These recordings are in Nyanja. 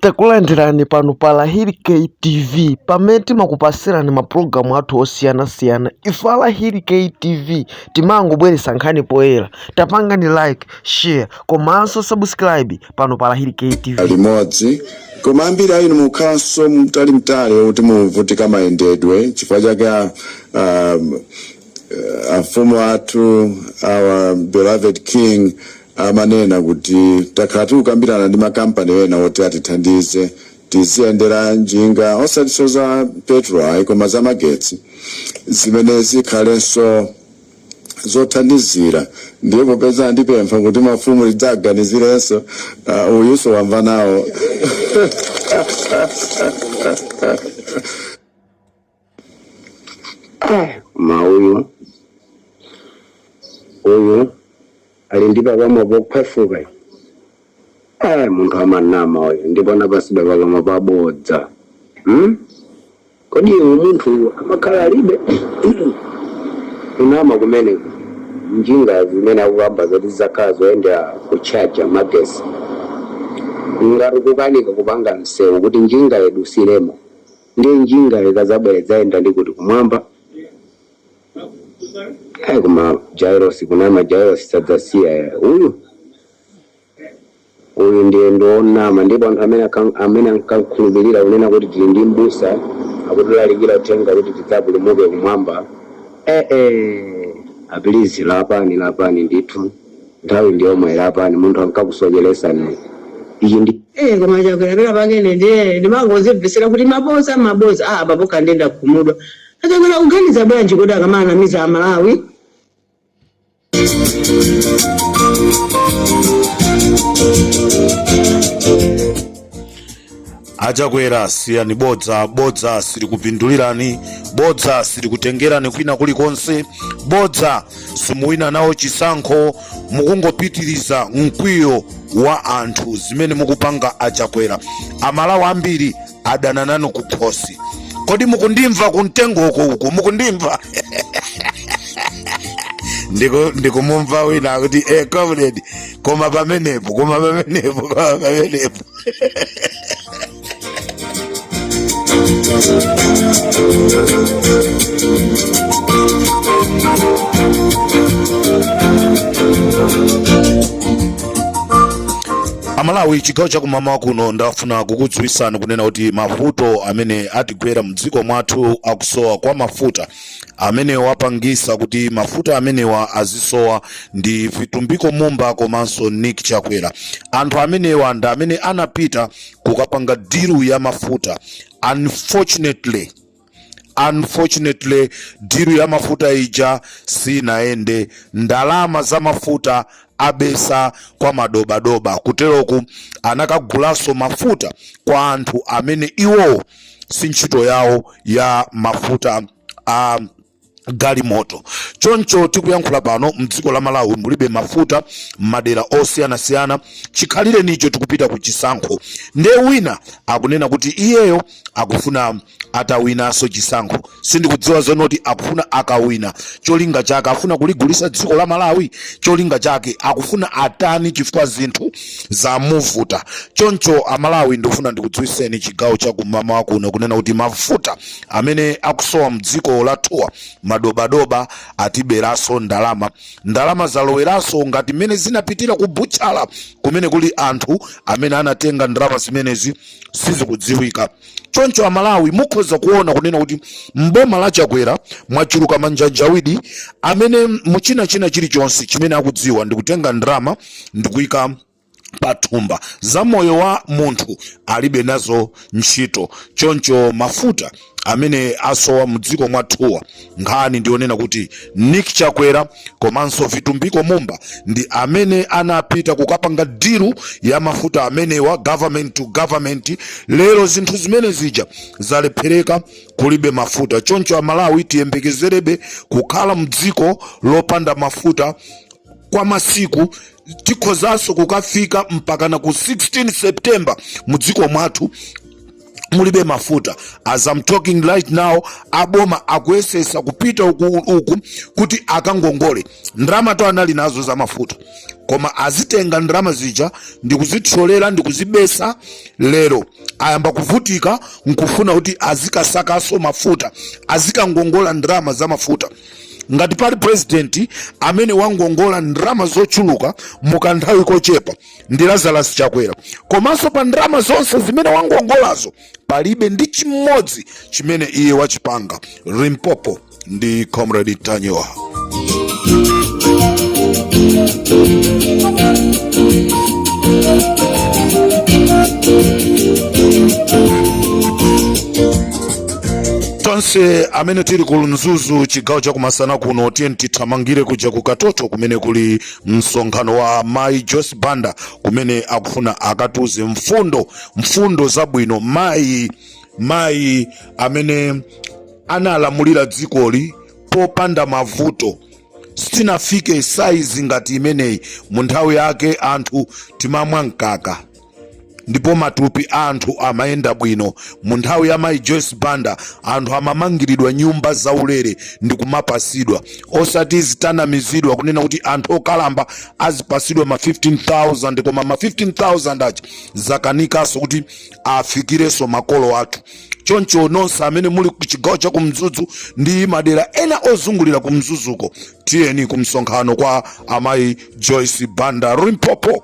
Takulandirani pano pa Lahiri K TV pamene timakupasirani mapulogalamu athu osiyanasiyana. Ife a Lahiri K TV timangobweretsa nkhani poyera. Tapangani like, share komanso subscribe pano pa Lahiri K TV. limodzi koma ambiri a inu mukhalanso mtalimtali okuti muvutika mayendedwe chifukwa chake a- a- amfumu athu our beloved king amanena kuti takhala tikukambirana ndi makampani ena oti atithandize tiziyendera njinga osatiso za petrol koma za magetsi zimene zikhalenso zothandizira ndipo popeza andipempha kuti mafumu tidzawaganizirenso uh, uyunso wamva nawo koma uyu uyu ali ndi pakamwa pokhwefuka uyu. eh munthu amanama uyu ndipo anapasida pakamwa pabodza hmm? kodi iwe munthuyu amakhala alibe kunama kumeneko njinga zimene akukamba zoti zizakhala zoyendera kutchaja magesi ngati ukukanika kupanga msewu kuti njinga yedu silemo ndiye njinga ikazabwera idzayenda ndi kuti kumwamba ayi koma jairosi kunama jairosi sadzasiya ya. uyu uyu ndiye ndi wonama ndipo anthu amene akam- amene ankakhulupirira kunena kuti tili ndi mbusa akutilalikira uthenga kuti tidzapulumuke kumwamba ee a pilizi lapani lapani ndithu nthawi ndi yomweyi lapani munthu ankakusocheresani ichi ndi Eh, koma chakwera pake ine ndiye ndimangozimvesera kuti mabodza mabodza ah apapo nde nda khumudwa achakwera akuganiza bwanji kuti akamanamiza amalawi achakwera siyani bodza bodza silikupindulirani bodza silikutengerani kwina kulikonse bodza simuwina nalo chisankho mukungopitiriza mkwiyo wa anthu zimene mukupanga achakwera amalawi ambiri adana nanu kukhosi kodi mukundimva kumtengo uko uko mukundimva Ndiku- ndikumumva wina akuti eh, comrade koma pamenepo koma pamenepo koma pamenepo amalawi chigawo chakummawa kuno ndafuna kukudziwisani kunena kuti mavuto amene atigwera mdziko mwathu akusowa kwa mafuta amene wapangisa kuti mafuta amenewa azisowa ndi vitumbiko mumba komanso nick chakwera anthu amenewa ndi amene anapita kukapanga diru ya mafuta unfortunately unfortunately diru ya mafuta ija sinayende ndalama za mafuta abesa kwa madobadoba kuteroku anakagulanso mafuta kwa anthu amene iwowo si ntchito yawo ya mafuta a galimoto choncho tikuyankhula pano mdziko la malawi mulibe mafuta m'madera osiyanasiyana chikhalirenicho tikupita ku chisankho nde wina akunena kuti iyeyo akufuna atawinaso chisankho sindikudziwa zonoti akufuna akawina cholinga chake akufuna kuligulisa dziko la malawi cholinga chake akufuna atani chifukwa zinthu zamuvuta choncho amalawi ndikufuna ndikudziwiseni chigawo cha kummawa kuno kunena kuti mafuta amene akusowa mdziko lathuwa madobadoba atiberaso ndalama ndalama zaloweraso ngati mmene zinapitira ku butchala kumene kuli anthu amene anatenga ndalama zimenezi sizikudziwika choncho amalawi mukhoza kuona kunena kuti mboma la chakwera mwachuluka manjanjawidi amene muchina china chilichonse chimene akudziwa ndikutenga ndalama ndikuika pathumba za moyo wa munthu alibe nazo ntchito choncho mafuta amene asowa mdziko mwathuwa nkhani ndiyonena kuti nick chakwera komanso vitumbiko mumba ndi amene anapita kukapanga diru ya mafuta amenewa government to government lero zinthu zimene zija zalephereka kulibe mafuta choncho amalawi tiyembekezerebe kukhala mdziko lopanda mafuta kwa masiku tikhozanso kukafika mpakana ku 16 september mu dziko mwathu mulibe mafuta as I'm talking right now aboma akuyesesa kupita uku, uku kuti akangongole ndalama zoti anali nazo za mafuta koma azitenga ndalama zija ndikuzitsolera ndikuzibesa lero ayamba kuvutika nkufuna kuti azikasakaso mafuta azikangongola ndalama za mafuta ngati pali president amene wangongola ndalama zochuluka mukanthawi kochepa ndi Lazarus Chakwera komanso pa ndalama zonse zimene wangongolazo palibe ndi chimodzi chimene iye wachipanga Limpopo ndi Comrade Ntanyiwa tonse amene tili ku mzuzu chigawo cha kumasana kuno tiyeni tithamangire kuja ku katoto kumene kuli msonkhano wa mayi Joyce Banda kumene akufuna akatuze mfundo mfundo zabwino mayi mayi amene analamulira dzikoli popanda mavuto sitinafike saizi ngati imeneyi mu nthawi yake anthu timamwa mkaka ndipo matupi a anthu amayenda bwino mu nthawi ya mayi joyce banda anthu amamangiridwa nyumba zaulere ndi kumapasidwa osati zitanamizidwa kunena kuti anthu okalamba azipasidwa ma 15000 koma ma 15000 aja zakanikanso kuti afikirenso makolo athu choncho nonse amene muli ku chigawo cha kumzuzu ndi madera ena ozungulira kumzuzuko tiyeni kumsonkhano kwa amayi joyce banda limpopo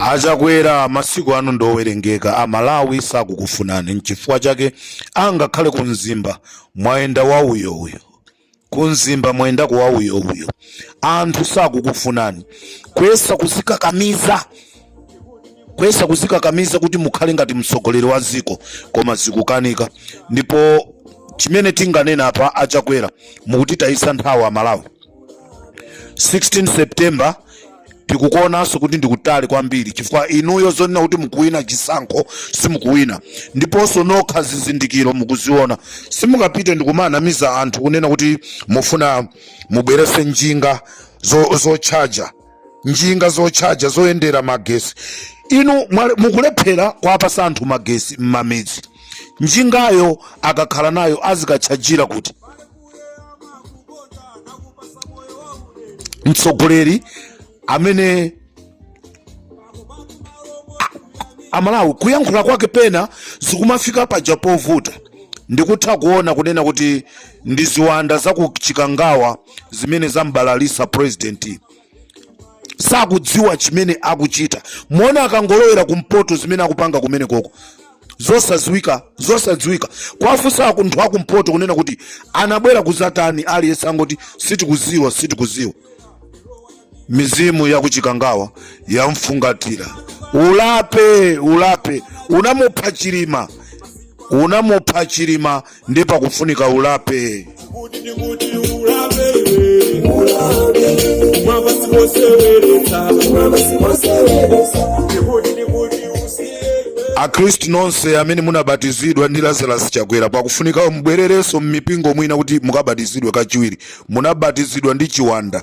achakwera masiku anu ndowerengeka amalawi sakukufunani nchifukwa chake angakhale kumzimba mwayenda wauyouyo kumzimba mwayendako wauyouyo anthu sakukufunani kuyesa kuzikakamiza kuyesa kuzikakamiza kuti mukhale ngati mtsogoleri wa dziko koma zikukanika ndipo chimene tinganena apa achakwera mukutitayisa nthawi amalawi 16 september tikukuonanso kuti ndikutali kwambiri chifukwa inuyo zonena kuti mukuwina chisankho simukuwina ndiponso nokha zizindikiro mukuziona simungapite ndikumanamiza anthu kunena kuti mufuna mubwerese njinga zo- zotchaja zo njinga zotchaja zoyendera magesi inu mwale- mukulephera kuwapasa anthu magesi m'mamidzi njingayo akakhala nayo azikatchajira kuti mtsogoleri amene amalawi kuyankhula kwake pena zikumafika paja povuta ndikutha kuona kunena kuti ndi ziwanda za ku chikangawa zimene zambalalisa president sakudziwa chimene akuchita muona akangolowera kumpoto zimene akupanga kumenekoko zosadziwika zosadziwika kuwafunsa anthu akumpoto kunena kuti anabwera kuzatani aliyense angoti sitikuziwa sitikuziwa mizimu yakuchikangawa yamfungatira ulape ulape unamupha chilima unamupha chilima nde pakufunika ulape akhristu nonse amene munabatizidwa ndi lazarus chakwera pakufunika mubwererenso m'mipingo mwina kuti mukabatizidwe kachiwiri munabatizidwa ndi chiwanda